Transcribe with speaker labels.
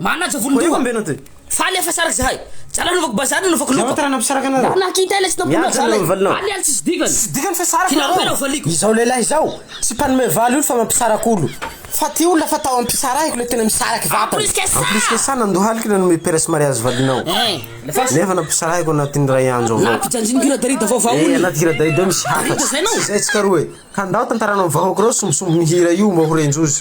Speaker 1: Manaja volon-doha. Faly afa saraky zahay. Zala anaovako bazary anaovako loka. Tara nampisaraka anareo. Mba nakita
Speaker 2: ilay tsy nampianao zala.
Speaker 1: Mianjana ny valinao. Aly aly tsisy dikany. Tsisy dikany fa saraka nareo. Finaroko
Speaker 2: aloha valiko. Izao
Speaker 1: lehilahy izao
Speaker 2: tsy mpanome valy olo fa mampisaraka olo. Fa ty olona fa tao ampisarahiko le tena misaraky vatana. En plus que ça. En plus que ça nandohalika nanome peres mariage valinao. Nefa nampisarahiko anatin'ny iray andro avao. Nampijanjiniko hira Darida vaovao
Speaker 1: ony. Eh anaty hira Darida misy
Speaker 2: hafa. Tsy zay nao. Tsy zay tsika roe. Ka ndao tantaranao ny vahoaka reo sombisomby ny hira io mba ho renj'oza.